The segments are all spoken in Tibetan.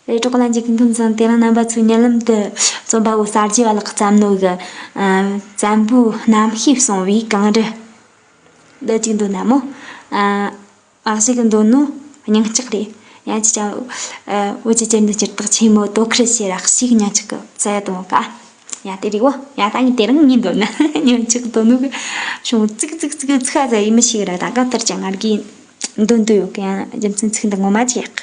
རེ་དོགས་ལ་འཇུག་མཐུན་ཟིན་དེ་རིང་རྣམ་པ་ཚོས་མྱུར་ལམ་དུ་རྩོམ་པ་པོ་གསར་བརྗེ་བ་ལགས་ཀྱི་བསམ་བློའི་བཙན་པོའི་རྣམ་ཤེས་བསྲུང་བའི་གངས་རི། བདེ་སྐྱིད་འདོད་ན་མོ་བར་གཤེགས་ཀྱི་འདོད་ནོ་སྙིང་ལྕགས་རེད་ཡ་ཅི་ཅང་བོད་ཀྱི་སྤྱིར་འདི་སྤྱིར་བཏགས་ཆེན་མོ་དོ་ཁུར་བྱེད་རག་ཤིག་སྙིང་ལྕགས་ཀྱི་བཙལ་དོ་ག་ཡ་དེ་རིག་བོ་ཡ་ད་ངས་དེ་རིང་ངའི་འདོད་ན་སྙིང་ལྕགས་དོ་ནུབ་བྱུང་ཙིག་ཙིག་ཙིག་ཚིག་ཧ་ཟ་ཡི་མི་ཞིག་རེད་ད་གང་ལྟར་ཀྱང་ང་རྒྱའི་འདོད་འདོད་ཡོད་གི་ཡ་རྒྱུ་མཚན་ཚིག་འདི་ངོ་མ་ཅི་ཡག་གི།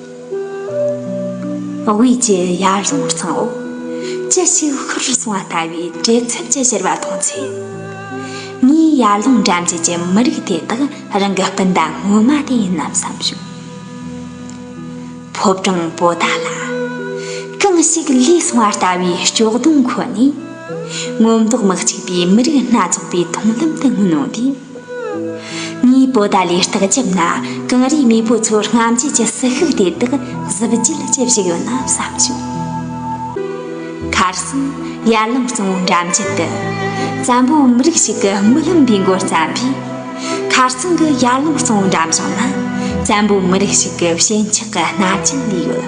དབུས་ཀྱི་ཡར་ཀླུང་གཙང་བོ་ཅི་ཞིག་ཤོར་རུ་སོང་བ་ལྟ་བུའི་བྲེལ་འཚུབ་ཀྱི་ཞེར་བ་མཐོང་ཚེ། ངའི་ཡར་ཀླུང་འགྲམ་རྒྱུད་ཀྱི་མི་རིགས་དེ་དག་རང་གི་སྤུན་ཟླ་སྔོན་མ་དེ་ཡིན་ནམ་བསམ་བྱུང། ཕོ་བྲང་པོ་ཏཱ་ལ། གང་ཞིག་ལུས་སོང་བ་ལྟ་བུའི་ལྕོག་སྡོང་ཁོ་ནས། སྔོན་མདོག་མི་གཅིག་པའི་མི་རིགས་སྣ་ཚོགས་པའི་མཐོང་ལམ་དུ་མངོན་འོངས་ཏེ། དངོས་པོ་དག་ལས་རྟགས་འཇིབ་ན་གངས་རིའི་མེས་པོ་ཚོར་རྔམ་བརྗིད་ཀྱི་ཟི་ཤུགས་དེ་དག་གཟི་བརྗིད་ལ་ཇི་བཞིན་ཡོད་ན་བསམ་བྱུང། Carson། ཡར་ལངས་གཙང་བོ་འགྲམ་རྒྱུད་དུ། བཙན་པོ་མི་རིགས་ཤིག་གི་མི་ལོན་པའི་མགོར་བརྩམས་པའི། Carson། གི་ཡར་ལངས་གཙང་བོ་འགྲམ་བཞིན་ན། བཙན་པོ་མི་རིགས་ཤིག་གི་ཞེན་ཆགས་ཀྱི་རྣ་ཅན་ལས་ཡོད།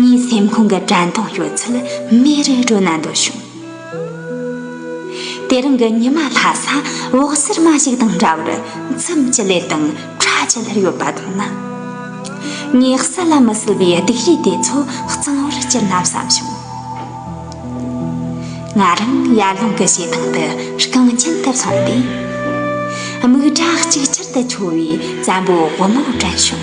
ངའི་སེམས་ཁོང་གི་དྲན་གདུང་ཡོད་ཚད་མེ་རི་སྒྲོན་ན་འདོད་བྱུང། དེ་རིང་གི་ཉི་མ་ལྷ་ས་འོག་སེར་མ་ཞིག་དང་འདྲ་བར་མཚམས་ཀྱི་ལེབ་དང་ཁྲ་ཆུ་ལྷར་ཡོད་པ་མཐོང་ན། ངའི་གསལ་ལ་མི་གསལ་བའི་སྡིག་རུས་དེ་ཚོ་གཙང་བོར་གྱུར་ན་བསམ་བྱུང། ང་རང་ཡར་ཀླུང་གི་བྱེ་ཐང་དུ་རྐང་རྒྱན་དུ་སོང་སྟེ། རྨིག་སྒྲ་གཅིག་ཆར་དུ་འཕྱོ་བའི་བཙན་པོའི་དབུ་མོ་དྲན་བྱུང།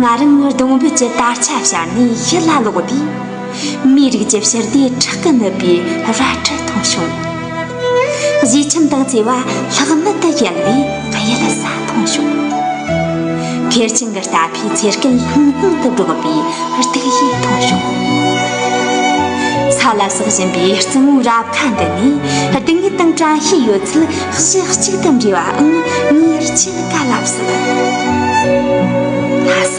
ང་རང་ནི་སྡོང་བུ་གྱི་དར་ཆ་ཕྱར་ནས་ཕྱི་ལ་ལོག་དུས། མིའི་རིགས་ཀྱི་ཕྱིར་དེ་ཁྲག་གིས་མནོད་པའི་རལ་གྲི་མཐོང་བྱུང། གཞིས་ཁྱིམ་དང་བརྩེ་བ་ལྷག་མེད་དུ་གཡེང་བའི་གཡུལ་ས་མཐོང་བྱུང། ཁེར་ཆེན་གྱི་རྟ་ཕོའི་ཚེ་སྐལ་ལྷང་ལྷང་དུ་སྒྲོག་པའི་རྟིག་གཞི་མཐོང་བྱུང། ས་ལ་ཟགས་བཞིན་པའི་རྩི་མོའི་རབ་ཁ་འདི་ནས་སྡུག་བསྔལ་དང་བཀྲ་ཤིས་ཡོད་ཚད་གཞི་གཅིག་ཏུ་འདྲེས་པའང་ངེས་ཅན། བཀའ་བསླབ་སྲིད། ལྷ་ས།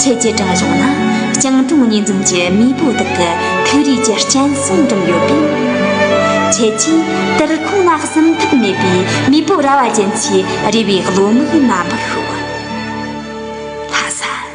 ཁྱེད་ཀྱི་དྲང་གཞུང་ནང་སྤྱང་གྲུང་གཉིས་འཛོམས་ཀྱི་མེས་པོ་དག་གི་ཐུགས་རིས་ཀྱི་སྤྱན་གསུམ་སྒྲུབ་ཡོད་པས། ཁྱེད་ཀྱིས་དུར་ཁུང་ལ་གསུམ་ཐབས་མེད་པའི་མེས་པོ་ར་བ་ཅན་ཚོའི་རེ་བའི་བློ་དམིགས་སྨྲ་མི་ཤོག། ལྷ་ས།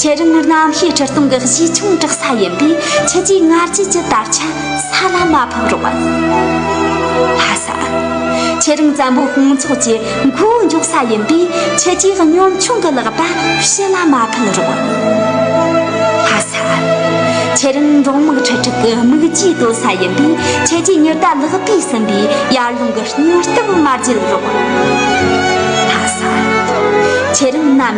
ཁྱེད་རང་ནི་གནམ་གཤིས་ཁྲི་སྟོང་གི་གཞིས་ཆུང་གྲགས་ས་ཡིན་པས་ཁྱེད་ཀྱིས་སྔ་རྗེས་ཀྱི་དར་ཆ་ས་ལ་མ་ཕབ་རོགས། ལྷ་ས། ཁྱེད་རང་བཙན་པོའི་དཔུང་ཚོགས་ཀྱི་མགོ་འཇོག་ས་ཡིན་པས་ཁྱེད་ཀྱིས་གཉོམ་ཆུང་གི་ལག་པ་ཕྱི་ལ་མ་ཕུལ་རོགས། ལྷ་ས། ཁྱེད་རང་འབྲོག་དམག་ཁྲི་ཕྲག་གི་དམིགས་རྒྱུའི་ལྟོ་ས་ཡིན་པས་ཁྱེད་ཀྱིས་ཉི་ཟླ་ལག་པས་ཟིན་པའི་ཡར་ཀླུང་གི་སྙུར་སྟབས་མ་བརྒྱུད་རོགས། ལྷ་ས། ཁྱེད་རང་གནམ།